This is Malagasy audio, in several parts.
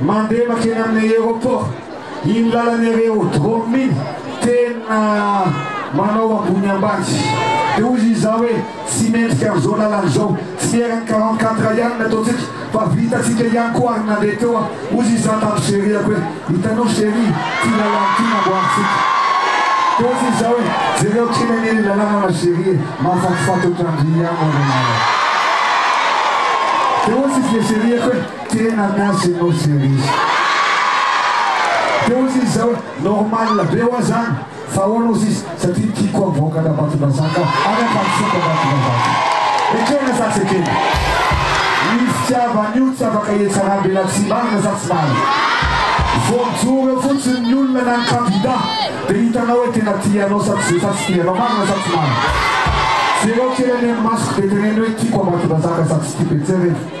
Mandeha makeny amin'ny aéroport iny lalan'ny areodrome iny tena manao ambony ambany dia hoy izy zah hoe tsy mendrika an'izao lalana izao tsy eran'ny quarante quatre ihany ny ataontsika fa vitantsika ihany koa ary nandeha teo aho hoy izy zah tamin'ny cheriako hoe hitanao cherie ity lalana ity namboarintsika dia hoy izy zah hoe jereo kely anie ilay lalana ma cherie e mahafatifaty ohatran'ny riano anie nareo dia hoy izy le cheriako hoe Tena miasa ianao Cerise. Teo sisa zao normal be hoa zany fa ahoana ozy izy satria ny kick hoa mivoaka Tabatondrazaka any Amparisoa Tabatondrazaka. Ekena sa tsy ekena? Ny fitiavana io tsy afaka hietsarambe na tsy marina sa tsy marina. Vao mijoro eo fotsiny ny olona na ny kandida dia hitanao hoe tena tia anao sa tsy sa tsy tia anao. Marina sa tsy marina? Jereo kely anie ny masoko dia teneno hoe tiako Ambatondrazaka sa tsy tiako. Ejereo.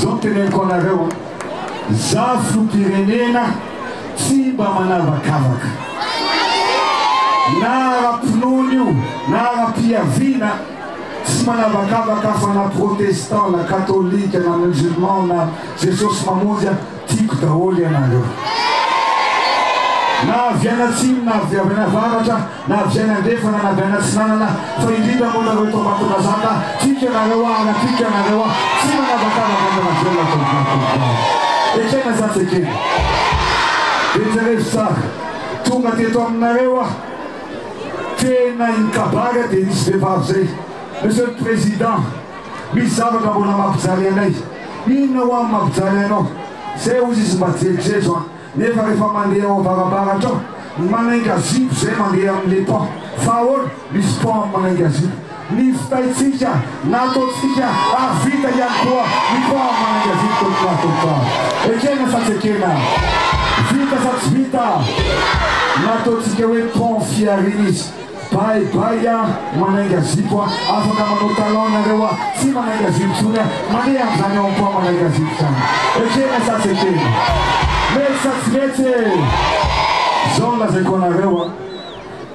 Zao no teneniko anareo, za fopirenena tsy mba manavakavaka na ara-pinoana io na ara-piaviana, tsy manavakavaka fa na protestant na katolika na musulman na jesosy mamonjy aho, Tiako daholo ianareo. Na avy any atsimo na avy any avaratra, na avy any andrefana na avy any atsinanana, fa indrindra moa nareo eto Ambatondrazaka, tiako ianareo aho ary tiako ianareo aho, tsy manavakavaka ato anatin'ny alina tovolahy tovovavy. Ekena zah tsy ekena. Dia jerezo tsara, tonga teto aminareo aho, tena i Kabary dia nisy vehivavy zay, Monsieur le Président, Misy zavatra mbola mampijaly anay. Inona ho'a ny mampijaly anao? Zay hozy izy mba jerijejo an! Nefa refa mandeha ao avarabaratra ao, ny manainga zipo zay mandeha amin le pont. Fa ahoana? Misy pont amin manainga zipo. Nivitaitsika, nataontsika, ary vita ihany koa ny pont amin manainga zipo teto Mahatonta. Ekena sa tsy ekena? Vita sa tsy vita? Nataontsika hoe pont fihariana izy. Bye bye a, manainga zipo a, afaka manao talon nareo a, tsy manainga zipo tsony a, mandeha amzany ao ampoa manainga zipo zany, ekena sa tsy ekena? Mety sa tsy mety e? Zao no lazaiko anareo a,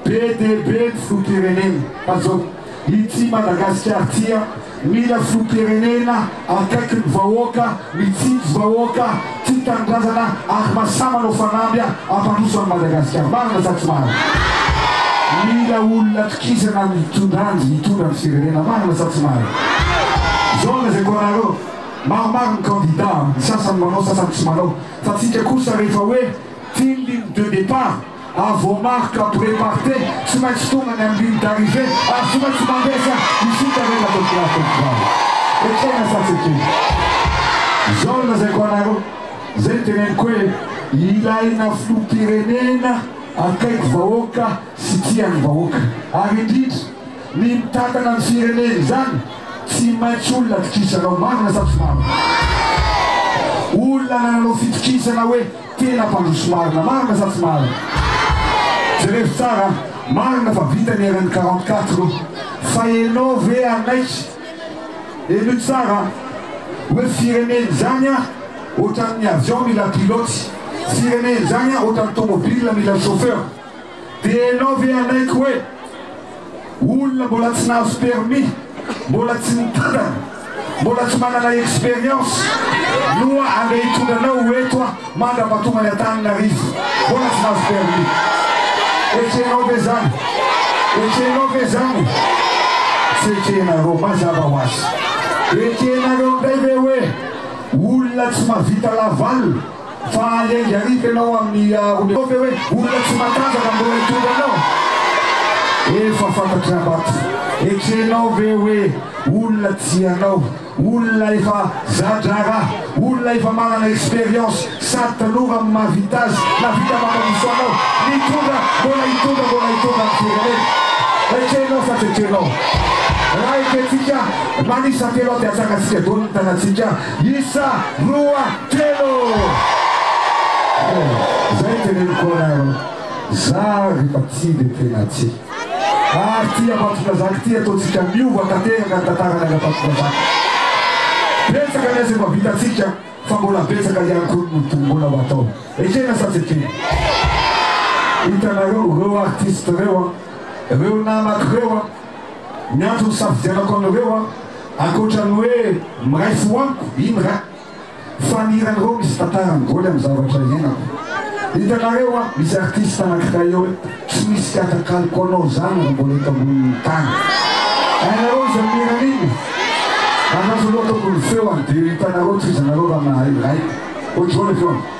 be dia be ny filoham-pirenena fa zao, ity Madagasikara ity a, Mila filoham-pirenena akaiky ny vahoaka, mitsinjo vahoaka, tia tanindrazana ary masahy manao fanamby hampandroso an'i Madagasikara. Marina sa tsy marina? Mila olona tokisana mitondra anzy hitondra ny firenena. Marina sa tsy marina? Zao ny lazaiko anareo, maromaro ny candidats, ny sasany manao, sasany tsy manao, fa tsika kosa rehefa hoe tindriny de départ, à vos marques près partez tsy maintsy tonga any amin'ny ligne d'arrivée ary tsy maintsy mandresa isika rehetra ato am-pilasy teto Valo ekena sa tsy ekena izao no lazaiko anareo izay no teneniko hoe ilaina filoham-pirenena akaiky vahoaka sy tia ny vahoaka ary indrindra ny mitantana ny firenena izany tsy maintsy olona atokisanao marina sa tsy marina olona nanao fitokisana hoe Tena mpandroso marina, marina sa tsy marina? Jerevo tsara a! Marina fa vita ny eran'ny quarante quatre o! Fa enao ve hanaiky, henoy tsara a! hoe firenena izany a ohatran'ny avion mila pilote, firenena izany a ohatran'ny tomobile mila chauffeur, Dia ianao ve hanaiky hoe olona mbola tsy nahazo permis, mbola tsy nitantana, mbola tsy manana expérience no andeha hitondra anao ho eto mandra-pahatonga any Antananarivo? Mbola tsy nahazo permis. Ekena ve izany? Ekenao ve izany? Tsy ekenareo, mazava ho azy. Ekenareo indray ve hoe olona tsy mahavita laval Fa engarit ianao amin'ny olona ve hoe olona tsy matanjaka mbola hitondra anao? Efa fantatry Abato. Ekrenao ve hoe olona tsy ianao, olona efa za-draharaha, olona efa manana expérience sady tanora amin'ny maha vita azy na vita mampandroso anao nitondra, mbola hitondra, mbola hitondra ny firenena? Ekrenao sa tsy ekrenao? Raha ekentsika, manisa telo aho dia atsaratsika daholo ny tarantsika. Isa, roa, telo! Zay ny teneniko anareo, za refa tia de tena tia. Ary tia Ambatondrazaka ity ataontsika miova tanteraka ny tantaranay Ambatondrazaka. Betsaka ny asa efa vitantsika fa mbola betsaka ihany koa ny ho mbola ho atao. Ekena sa tsy ekena? Hitanareo reo artiste reo an, reo namako reo an, Ny antony hisafidianako anareo an, ankoatra ny hoe miray fo amiko, iny ra, fa ny hiran'ireo misy tantara migoly amin'ny zavatra iainako. Hitanareo an, misy artiste anankiray eo hoe tsy misy tsy atakaliko anao izany raha mbola eto ambonin'ny tany. Hainareo izy amin'ny hirany iny? Andraso aloha ataoko ny feony dia hitanareo tohizanareo raha mahay miray. Ohatroana ny feony.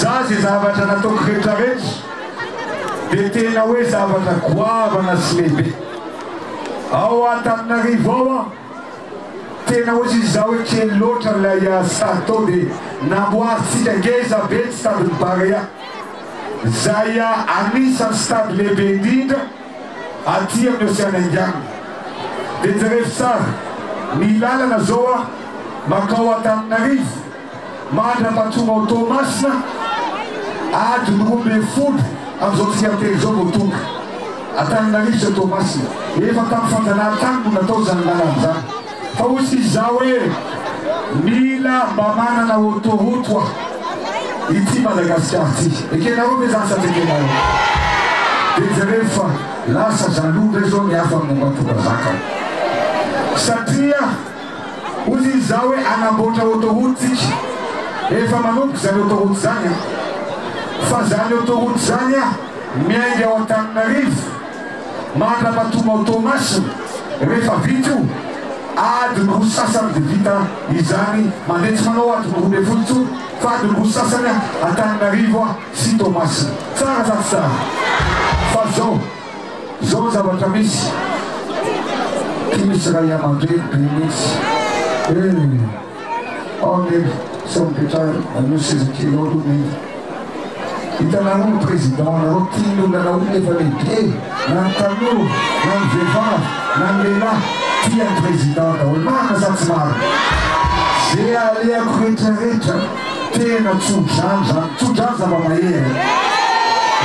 Za ze zavatra nataoko retraretra de tena oe zavatra goavana sy lehibe ao Antananarivo ao an! tena oe tsisy za oe kely loatra lay stade tao de namboarintsika ngeza be ny stade ny Barea zay anisany stade lehibe indrindra aty amin'ny ocean indiana de jereo tsara ny lalana zao an! makao Antananarivo Mandrava tonga ao Toamasina, adiny roa ambin'ny folo amin'izao tsika miteny izao vao tonga. Antananarivo sy Toamasina. Efa tamin'ny fanjanahan-tany no natao izany lalana izany. Fa hoy isika izaho hoe mila mba manana autoroute hoa ity Madagasikara ity. Ekenareo ve izany sa tsy ekenareo? Dia jereo fa lasa jaloux indray izao ny hafa momba Antondrazaka. Satria. Hozy izy zao hoe hanamboatra autoroute tsika rehefa manomboka zany autoroute zany an! Fa zany autoroute zany an miainga ao Antananarivo mandra-patonga ao Toamasina rehefa vita io adiny roa sy sasany de vita izany mandeha tsy manao adiny roa ambin'ny folo intsony fa adiny roa sy sasany an Antananarivo sy Toamasina. Tsara sa tsy tsara? Fa zao. Izao ny zavatra misy, tsy misy ray aman-dreny be mihitsy eh! Ao Neny, sao mipetraha anio seza kely ao aloha Neny. Hitanareo ny président anareo tia ny olona anareo ny efa lehibe na ny tanora na ny vehivavy na ny lehilahy tia ny président daholo marina sa tsy marina? Ze alehako retraretra. Tena tso-drano izany, tso-drano zava-mahery e!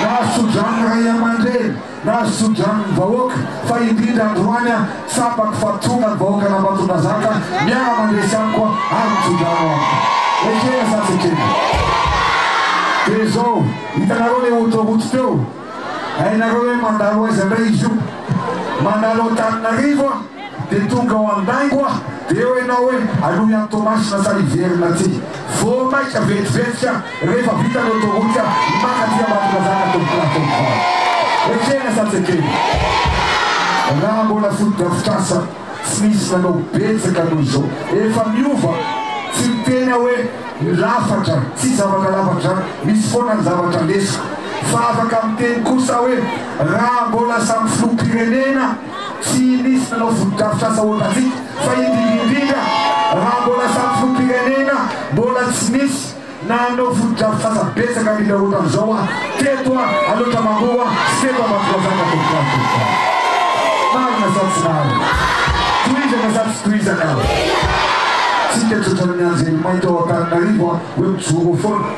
Nahazo tso-drano ny ray aman-dreny, nahazo tso-drano ny vahoaka, fa indrindra androany aho tsapako fa tonga ny vahoakan'Ambatondrazaka miara-mandresy amiko ary mitso-drano amiko. Ekena sa tsy ekena? Dia izao, hitanareo ilay ohatra rojo teo? Hainareo hoe mandalo aiza indray izy io? Mandalo Antananarivo aho, Dia tonga ao an-daingo aho, dia eo ianao hoe aloha ihany Toamasina fa hiverina aty. Vao maika vetivety aho, rehefa vita ny autoroute aho, maka aty Ambatondrazaka tompokolahy tompokolahy. Ekena sa tsy ekena? Raha mbola fotodrafitrasa, tsy nisy nanao betsaka noho izao. Efa miova, tsy miteny aho hoe ny lafatra, tsy zavatra lafatra izany, misy foana ny zavatra lesoko. Fa afaka miteny kosa aho hoe raha mbola samy filoham-pirenena, Tsy misy nanao fotodrafitrasa ohatrantsika fa indrindra indrindra raha mbola samy filoham-pirenena mbola tsy nisy nanao fotodrafitrasa betsaka indrindra ohatran'izao aho teto Alaotra Mangoro sy teto Ambatondrazaka Tovovavy Tovovavy. Marina sa tsy marina? Tohizana sa tsy tohizana? Tsika tsotra ny anjely mainty ao Antananarivo hoe mijoro foana.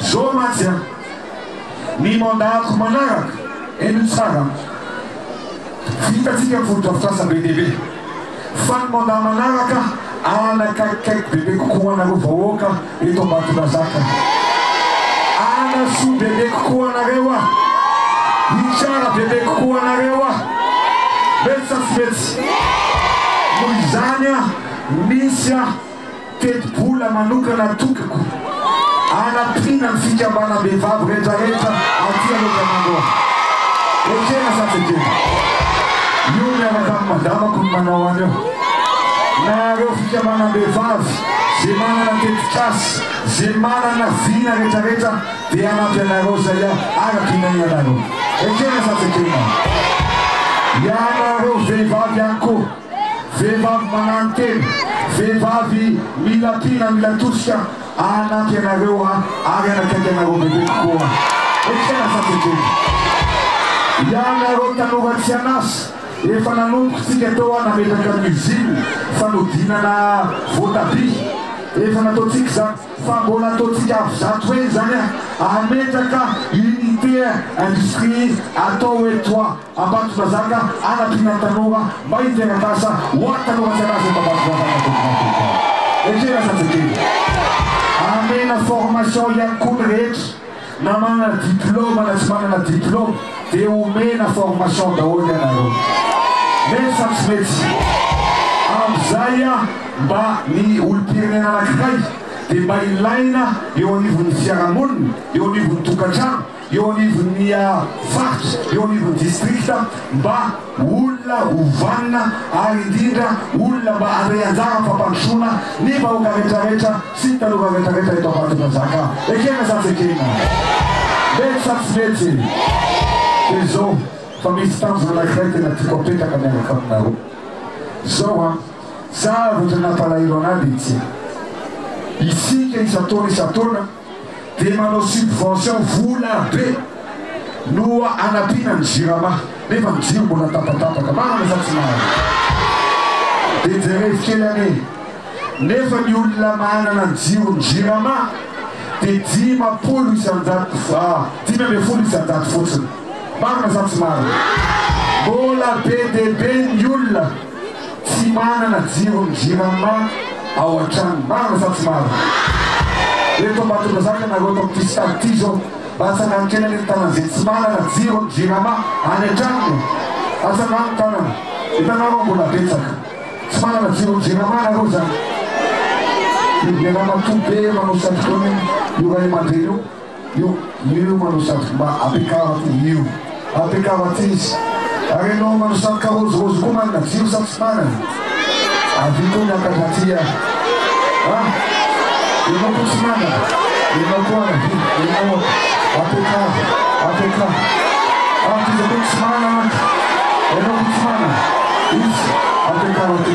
Zo mantsy an! Ny mandat-ko manaraka, eny tsara an! Vitantsika ny fotodrafitrasa be dia be, fa ny mandat manaraka anakaikikaiky bebe kokoa ho anareo vahoaka eto Ambatondrazaka. Hanasoa bebe kokoa anareo aho, hitsara bebe kokoa anareo aho. Mety sa tsy mety? Noho izany an, misy an! Tetibola manokana atokako hanampiana ny fikambanam-behivavy rehetrarehetra aty Anôtananô. Ekena sa tsy ekena? Io miaraka amin'ny madamako no manao an'io. Nahareo fikambanam-behivavy ze manana tetikasa, ze manana vina rehetrarehetra dia hanampy anareo izay araka inianareo. Ekena sa tsy ekena? Ianareo vehivavy ihany koa. Vehivavy manano tena, vehivavy mila mpina, mila tosika hanampy anareo ary hanakaiky anareo bebe kokoa. Ekena sa tsy ekena? Ianareo tanora tsy an'asa, efa nanomboka tsika teo an nametraka ny usine fanodinana voatabia, efa nataontsika izany fa mbola ataontsika avy zato heny izany an, hametraka unité industrie atao hoe toit. Ambatondrazaka, Anatrinan'ny tanora, May Terakasa, Ho an'ny tanora tsy alaza eto Ambatondrazaka dia miantoka eo. Ekena zazakely. Amena formation ihany koa ny rehetra, na manana diploma na tsy manana diploma dia omena formation daholo ianareo. Mety sa tsy mety? Amin'izay mba ny olom-pirenena anankiray dia mba ilaina eo anivon'ny fiarahamonina, eo anivon'ny tokantrano, eo anivon'ny faritra, eo anivon'ny distrikta mba olona ho vanona ary indrindra olona mba handray anjara amin'ny fampandrosoana ny vahoaka rehetrarehetra sy ny tanora rehetrarehetra eto Ambatondrazaka. Ekena sa tsy ekena? Mety sa tsy mety? Dia izao fa misy tanjona anankiray tena tiako apetraka miaraka aminareo. Izao an, zavatra nampalahelo an'ahy dia ity, isika isan-taona isan-taona, dia manao subvention vola be no anampiana ny jirama nefa ny jiro mbola tapatapaka marina sa tsy marina? Dia jerevo kely anie nefa ny olona manana ny jiro ny jirama dia dimampolo isanjato dimy ambin'ny folo isanjato fotsiny marina sa tsy marina? Mbola be dia be ny olona Tsy manana jiro ny jirama ao an-trano. Marina sa tsy marina? Eto Ambatondrazaka na eto amin'ity stade ity izao, latsaka ankilany ny tanana izay tsy manana jiro ny jirama any an-tranony e! Atsangano ny tanana. Hitanareo fa mbola betsaka tsy manana jiro ny jirama nareo izany? Io be ramatoa be manao satroka io, io ray aman-dreny io. Io io manao satroka ba ampiakarako io io ampiakaro aty izy ary ianao manao satroka rôzirôzy koa manana vy io satroka manana avia koa miakatra aty a a ianao koa tsy manana ianao koa ana vy ianao ôka ampiakaro ampiakaro aty izy koa tsy manana mantsy ianao koa tsy manana izy ampiakaro aty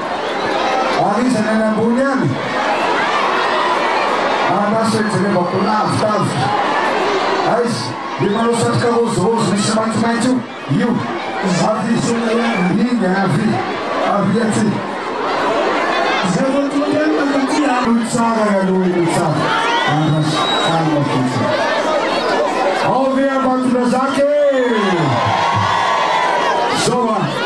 ary iza ny any ambony any? Andraso ijerevako lavidavitra. Aiza? Ilay manao satroka rôzirôzy misy maitsomaitso io? Io. Avia. Inga avia. Avia aty. Izay vao tonga any na taty a! Io tsara ny aloha io tsara. Andraso, calme fotsiny. Ao ve Ambatondrazaka e! Zao a!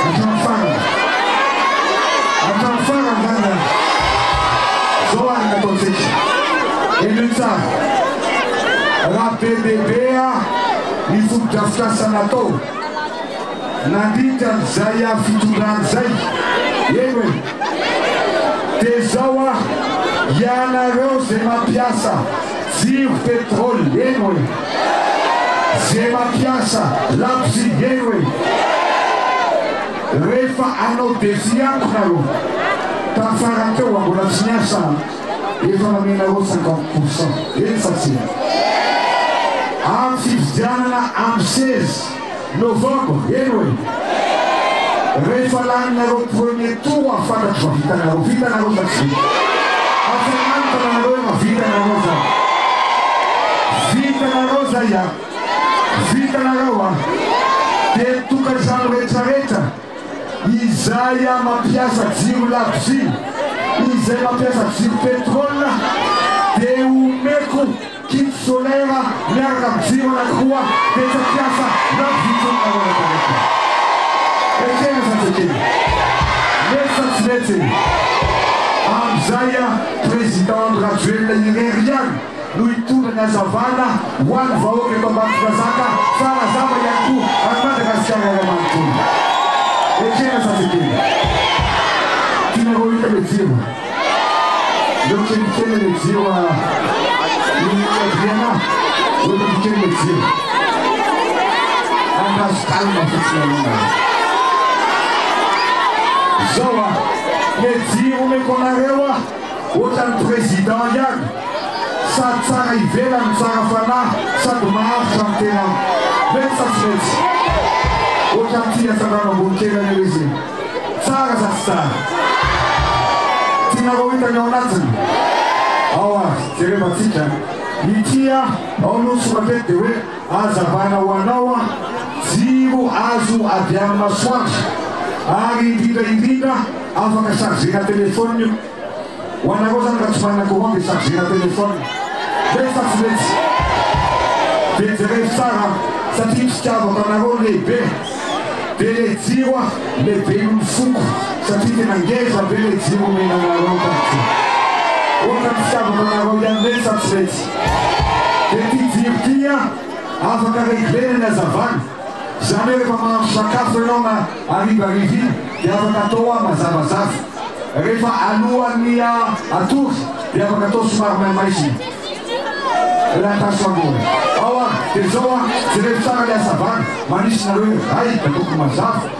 Hatramin'ny farany. Hatramin'ny farany izany an! Izao ary ny ataontsika. Élu tsara. Raha bebebe ny fotodrafitrasa natao nandritra an'izay fitondrana izay, eny e! dia izao ary, ianareo izay mampiasa jiro, pétrole, eny e! Ze mampiasa labozia heno e! Rehefa hanao devis amiko nareo tamin'ny farany teo raha mbola tsy niasa aho dia efa namenareo cinquante pourcent, eny sa tsia? Amin'ny fifidianana amin'ny seza. Novembre, heno e! Rehefa laninareo premier tour aho fantatro fa vitanareo, vitanareo sa tsy vita? Asa manontana anareo raha vitanareo zany? Vitanareo zay an! Vitanareo an! Dia ny tokantrano rehetrarehetra, izay mampiasa jiro labozia, izay mampiasa jiro petrole dia omeko Kit solaire miaraka amin'ny jiro anankiroa betsaka mpiasa na vitsy olona ao anatin'eto. Ekena zazakely. Mety sa tsy mety e? Amin'izay Président Andry Rajoelina irery ihany no hitondra ny hazavana ho an'ny vahoaka eto Ambatondrazaka fa nazava ihany koa an'i Madagasikara iray manontolo. Ekena zazakely. Tianareo hahita ilay jiro? Ndao kely kely le jiro a. Ny Adriana, voatovy kely le jiro. Andraso calme fotsiny aloha. Zao a, le jiro omeko anareo a, ohatran'ny président ihany, sady tsara ivelany, tsara fanahy, sady maharitra ny tenany. Mety sa tsy mety? Ohatran'ity niasandrano ambony kely an'io izy. Tsara sa tsy tsara? Tianareo hita ny ao anatiny? Ao ary, jerevantsika. Ity aho, ao aloha ny sorateko dia hoe, Hazavana ho anao aho, jiro azo avy amin'ny masoandro. Ary indrindra indrindra, afaka chargena telephone io. Ho anareo zany raha tsy manana commande dia chargena téléphone. Vetsy sa tsy vetsy? Dia jereo tsara an! Satria ny fitiavako anareo lehibe. Dia le jiro an! Lehiben'ny foko satria tena ngeza be le jiro omena anareo tahaka izao. Ohatran'ny fitiavako anareo ihany vetsy sa tsy vetsy? Dia ty jiro ty an! Afaka reglena ny hazavana. Izany hoe rehefa mahandro sakafo ianao na harivariva iny dia afaka atao hoa mazavazava. Rehefa alohan'ny hatory dia afaka atao somary maimay sy latasy mangoana. Ao ary dia izao an, jereo tsara ilay hasavana, manisy nareo hoe hay da tokony mazava.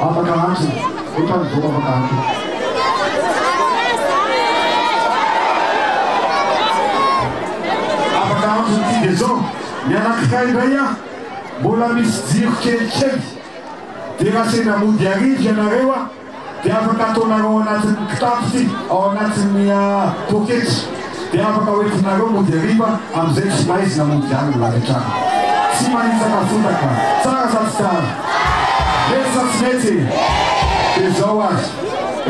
Afaka antso otrany zao afaka antso. Afaka antso ty de zao ny anakiray ndray a mbola misy jiro kelikely de raha sendra mody arivo ianareo a. dia afaka ataonareo ao anatin'ny kitapo sy ao anatin'ny poketra dia afaka hoentinareo mody hariva amin'izay tsy maizina mody any ny lavitrany. Tsy manitsaka fotaka. Tsara sa tsy tsara? Mety sa tsy mety? Dia izao ary,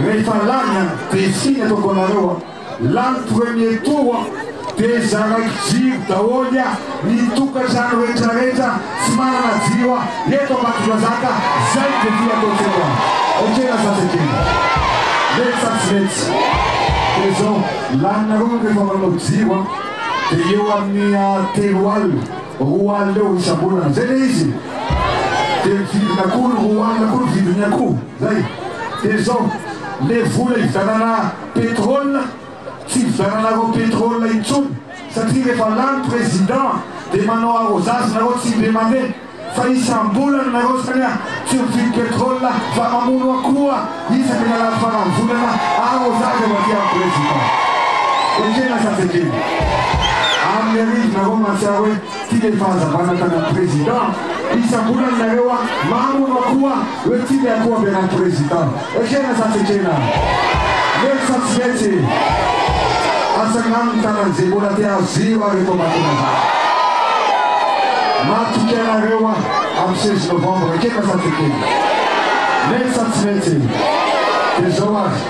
rehefa lany dia tsy iny ataoko anareo an. Lany premier tour aho dia zaraiko jiro daholo ny tokantrano rehetra rehetra tsy manana jiro aho eto Ambatondrazaka zay devis ataoko eto an ok na zatra kely mety sa tsy mety dia zao laninareo ny rehefa manao jiro an dia eo aminy telo alina roa alina eo isambolana zay le izy dia ny vidiny akoho ny roa alina koa ny vidiny akoho zay dia zao le vola ividianana Pétrole tsy hividianana roa pétrole intsony satria rehefa lany président dia manao arrosage nareo tsy indray mandeha fa isambolana nareo zany tsy mividy pétrole fa mamono akoho isaky ny alahady faran'ny volana arrosage avy aty amin'ny président ekena sa tsy ekena amin'ny arivo nareo mahatsiaro hoe Ity de ny fahazavana tana président isam-bolana nareo a maro no akoha oe tia ny akoho ampianany président ekena sa tsy ekena mety sa tsy mety asa agnano ny tanany ze mbola te azo ziro ary eto amakina za matoky anareo a am seize novembre ekena sa tsy ekena mety sa tsy mety de zao ary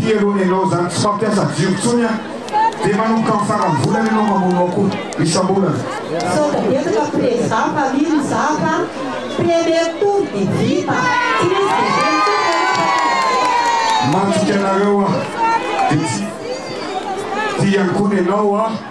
Ty aloha nenao zany tsy fampiasa jiro tsony an! Dia manomboka amin'ny faran'ny volana ianao mamono akoho isam-bolana. Sao dia betsaka prezà mpamily mizaka premier tour dia vita! Tsy misy dezemy tour ianao fa tonga izay! Manosika anareo aho dia tsy tia ihany koa nenao an!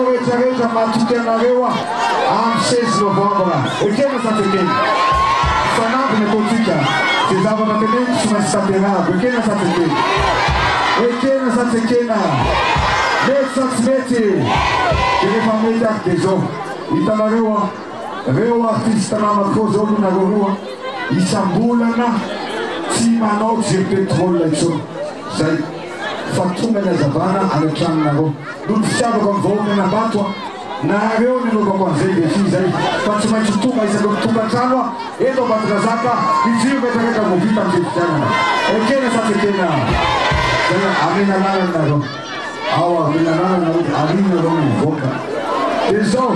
Rehetra rehetra matoky anareo aho am seize novembre ekena sa tsy ekena? Fanamby ny ataontsika ze zavatra teneniko tsy maintsy tanterahako ekena sa tsy ekena? Ekena sa tsy ekena? Mety sa tsy mety? De refa mety ary de zao hitanareo an reo artiste namako zao aloha nareo roa isambolana tsy manao jeu petrole intsony zay fa tonga ny hazavana any an-tranonareo noho ny fitiavako amin'ny vahoaka an'Ambato aho nahareo ny anaovako an'izay dia fy izay fa tsy maintsy tonga isaky ny tonga an-trano aho eto Ambatondrazaka hijiro miatraraka vao vita ny fifidianana ekena sa tsy ekena izay amena lalana nareo ao amena lalana nareo dia alina nareo ny mivoaka dia izao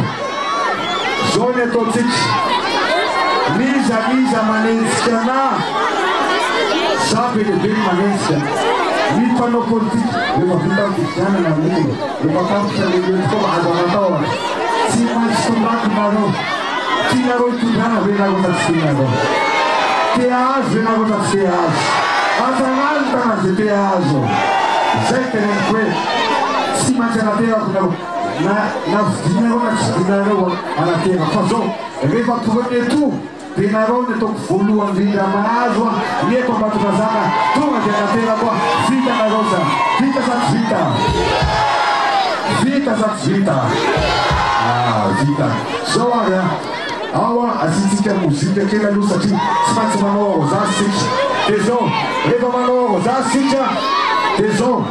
Zao ny ataontsika, n'iza n'iza manenjika anà, za be dia be ny manenjika ny mpanao politika rehefa vita ny fifidianana ny ora, rehefa tapitra ny ireto taona azo anatao ary, tsy maintsy tondrako nareo, tianareo hitondrana ve nareo sa tsy tianareo? Te ahazo ve nareo sa tsy te ahazo? Atanalo ny tanàna ze te ahazo, zay teneniko hoe tsy maintsy anaterako nareo. Na na vidina areo na tsy vidina areo Arafera fa zao rehefa premier tour de nareo ny ataoko voalohany indrindra mahazo an ny eto Ambatondrazaka tonga de Araferako an vita nareo zan vita sa tsy vita vita sa tsy vita ah vita zao ary an ao an asiantsika mozika kely aloha satria tsy maintsy manao arrosage sika de zao rehefa manao arrosage sika de zao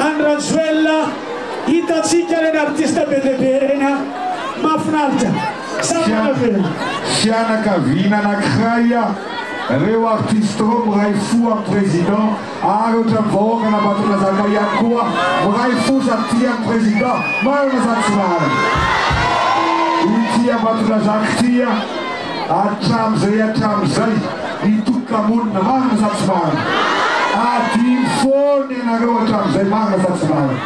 Any Rajoelina hitantsika ireny artiste be dia be ireny an! Mahafinaritra! Sa ahoana ve an? Fianakaviana anakiray a reo artiste reo miray fo am president ary otrany vahoaka an'Ambatondrazaka ihany koa miray fo sady tia ny president marina sa tsy marina? Ity Ambatondrazaka ity a! hatramin'izay hatramin'izay ny tokam-monina, marina sa tsy marina? Adino foana ianareo hatramin'izay, marina sa tsy marina?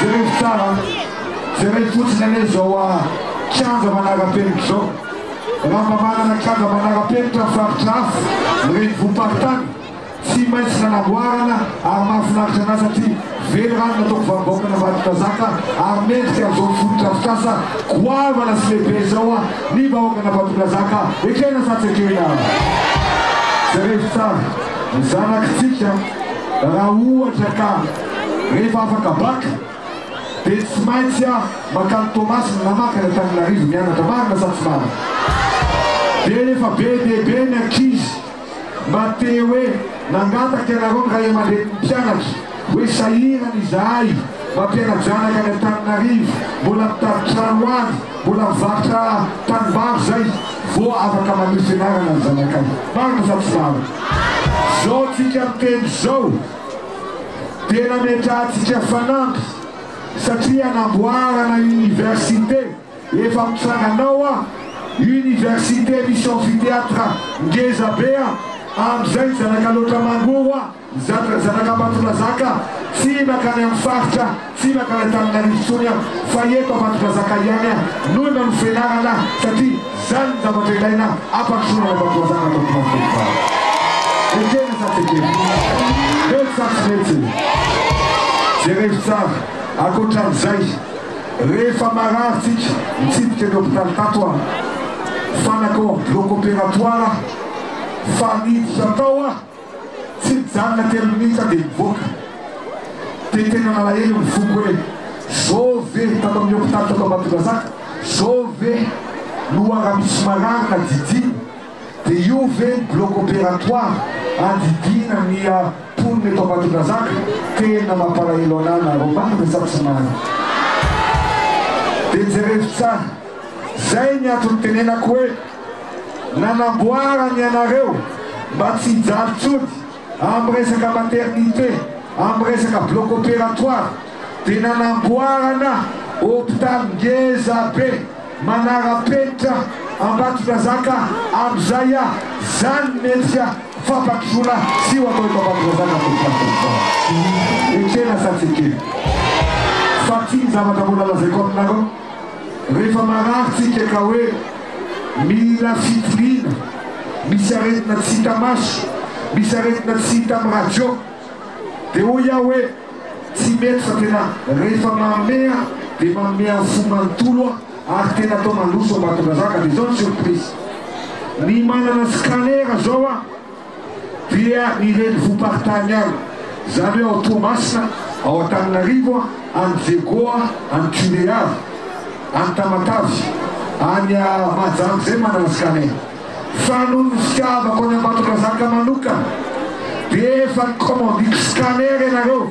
Jerevo tsara an! Jereo fotsiny anie izao kianja manara-penitra izao, raha mba manana kianja manara-penitra amin'ny faritra hafa, ny renivohim-paritany, Tsy maintsy nanamboarana ary mahafinaritra an'ahy satria velirano nataoko vanim-bahoaka navadin-drazaka ary mendrika amin'izao fotodrafitrasa goavana sy lehibe izao ny vahoaka navadin-drazaka ekena sa tsy ekena? Jerevo tsara ny zanakitsika raha ohatra ka rehefa afaka bac dia tsy maintsy aho mankany Toamasina na mankany Antananarivo mianatra, marina sa tsy marina? Dia efa be dia be ny ankizy mba te hoe nangataka ianareo ny ray aman-drenin'ny mpianatra hoe sahirana izahay mampiana-janaka any Antananarivo, mbola mitady trano ho avy, mbola mivarotra tanimbary zay vo afaka manohy fianarana ny zanakay. Marina sa tsy marina? Zao tsika miteny zao dia nametrahantsika fanamby satria anamboarana université. Efa mitsangana ao an! Université misy amphithéâtre ngeza be an! Amzay zanaka loatra mango hoa zatra zanaka Ambatondrazaka tsy makany am faritra tsy makany Antananarivo tsony an! Fa eto Ambatondrazaka ihany an! No nanofenarana satria zany ny zavatra ilaina ampandrosoana ny Ambatondrazaka ato am plasy eto fa ekena sa tsy ekena? Mety sa tsy mety? Jerevo tsara! Akoatran'izay. Rehefa marary tsika, nitsidika ny hopitaly tato aho, fa nakao amin'ny bloc opératoire aho, fa niditra tao aho, tsy nijanona telo minitra aho dia nivoaka. Dia tena nalahelo ny foko hoe, zao ve, tato amin'ny hopitaly tato Ambatondrazaka, zao ve no ara-misy marary na jijiny? Dia io ve ny bloc opératoire andidiana miha mponina eto Ambatondrazaka? Tena mampalahelo anah nareo marina sa tsy marina? Dia jerevo tsara, zay ny antony tenenako hoe nanamboarany anareo mba tsy hijaly tsony amin'ny resaka maternité, amin'ny resaka bloc opératoire dia nanamboarana hopitaly ngeza be manara-penitra Ambatondrazaka amin'izay a! Zany metsika fampandrosoana zio atao eto Ambatondrazaka tompoko ary tompon'andraikitra. Ekena sa tsy ekena fa ty ny zavatra mbola lazaiko aminareo. Rehefa marary tsika ka hoe mila fitoriana, misy aretina tsy hita maso, misy aretina tsy hita amin'ny radio, dia hoy aho hoe tsy mety fa tena rehefa manome aho dia manome amin'ny fo manontolo aho ary tena atao mandroso Ambatondrazaka dia izao ny surprise, ny manana scanner izao aho, dia ny renivohi-paritany ihany, izany hoe ao Toamasina, ao Antananarivo, any Diego, any Tulear, any Tamatave, any Mahajanga izay manarasika anay. Fa noho ny fitiavako an'i Ambatondrazaka manokana dia efa nikômandiko scanner ianareo.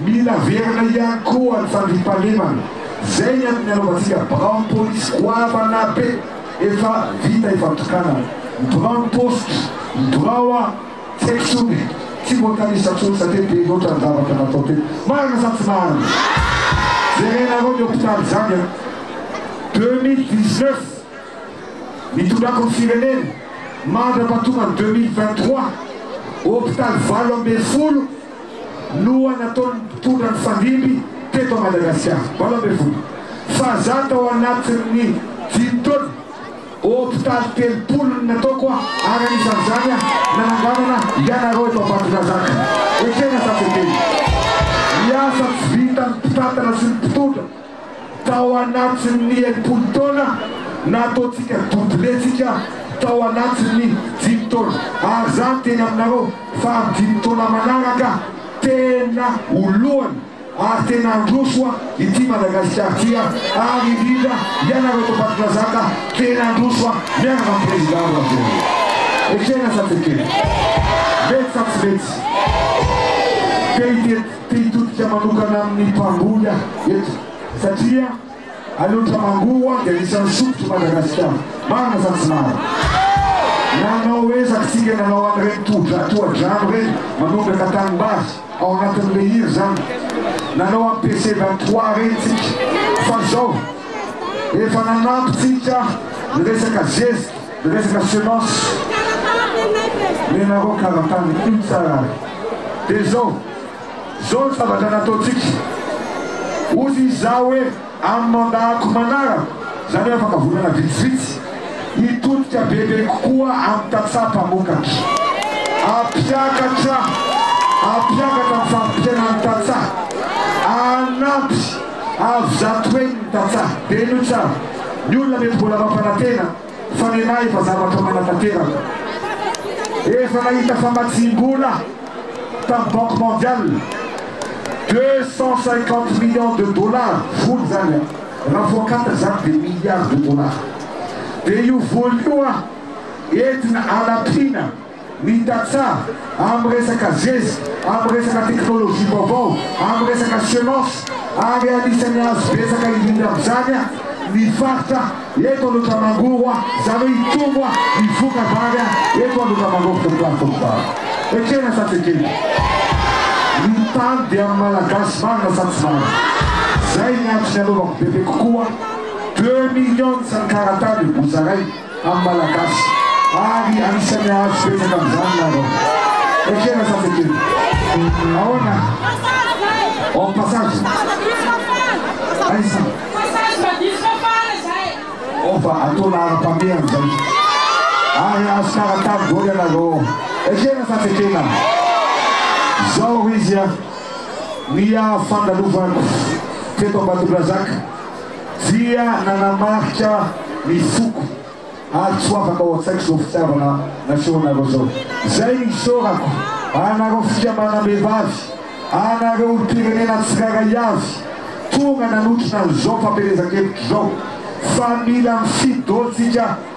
Mila averina ihany koa ny fandriampahalemana, izay ny amin'ny anaovantsika biraon'ny polisy goavana be efa vita ifantokanana. Ny biraon'ny paositra, ny birao an, tsy haiko intsony e, tsy mbola tanisa intsony satria be loatra ny zavatra natao teto. Marina sa tsy marina? Jerenareo ny hopitaly izany an. Deux mille dix neuf, nitondrako ny firenena, mandra-pahatonga ny deux mille vingt trois, hopitaly valo ambin'ny folo, loha nataon'ny mpitondra mifandimby teto Madagasikara, valo ambin'ny folo fa za tao anatin'ny dimy taona, hopitaly telopolo no nataoko ary anisan'izany nananganana ianareo eto Ambatondrazaka. Ekena safidiny, ny asa tsy vitan'ny mpitantana sy ny mpitondra tao anatin'ny enimpolo taona na ataontsika doublet-tsika tao anatin'ny dimy taona ary zany teny aminareo fa amin'ny dimy taona manaraka tena ho lohany ary tena handroso ity Madagasikara ity ary indrindra ianareo eto Ambatondrazaka tena handroso miaraka amin'ny Président Rajoelina. Ekena sa tsy ekena? Mety sa tsy mety? Te hitety. Te hitodika manokana amin'ny mpamboly aho eto satria any Otramangoa ho'a dia anisan'ny sokitry Madagasikara. Marina sa tsy marina? Nanao ezaka isika nanao an'ireny tohodra tohadrano ireny manondraka tanimbary ao anatin'ny leiry izany. Nanao an'i PC vingt trois ireny isika fa izao efa nanampy isika ny resaka zezika. Resaka semence, menareo karatany iny tsara ary. Dia izao, izao ny zavatra nataontsika, hozy izaho hoe amin'ny mandat-ko manaraka, izany hoe afaka volana vitsivitsy, hitodika bebe kokoa amin'ny tantsaha mpamokatra. Hampiakatra, hampiakatra ny farim-piainan'ny tantsaha, hanampy, hahavizato eny ny tantsaha. Dia inoy tsara, ny olona mety mbola mampanantena, fa nenaha efa zavatra manatanteraka. Efa nahita famatsiam-bola tamin'ny Banque Mondiale, deux cent cinquante millions de dollars fony izany an, raha voakata izany dia milliards de dollars. Dia io vola io an, entina hanampiana. ny tantsaha amin'ny resaka zezika, amin'ny resaka teknolojia vaovao, amin'ny resaka sianansa ary anisan'ny azo betsaka indrindra amin'izany ny faritra eto Andotamangoro, izany hoe hitombo ny voka-bary eto Andotamangoro Teritwary Fokontany. Ekena sa tsy ekena? Ny tany dia amin'ny Malagasy marina sa tsy marina? Izay ny antony anaovako bebe kokoa deux millions ny karatany, ho zaraina. amin'ny Malagasy ary anisan'ny hahazo betsaka amin'izany ianareo. Ekena sa tsy ekena? Ahoana? Hors passage? Aiza? Hors fa ataona ara-pameha amin'izay. Ary hahazo kara-tany daholo ianareo ao. Ekena sa tsy ekena? Izao ho izy an! Ny haha-fandalovanako teto Ambatondrazaka, dia nanamarika ny foko ary tsy ho afaka ao an-tsaiko izao fitiavana nasehonareo izao. Izay no isaorako anareo fikambanam-behivavy, anareo olom-pirenena tsirairay avy tonga nanotrona an'izao fampielezan-keloka izao fa mila mifidy daholo isika,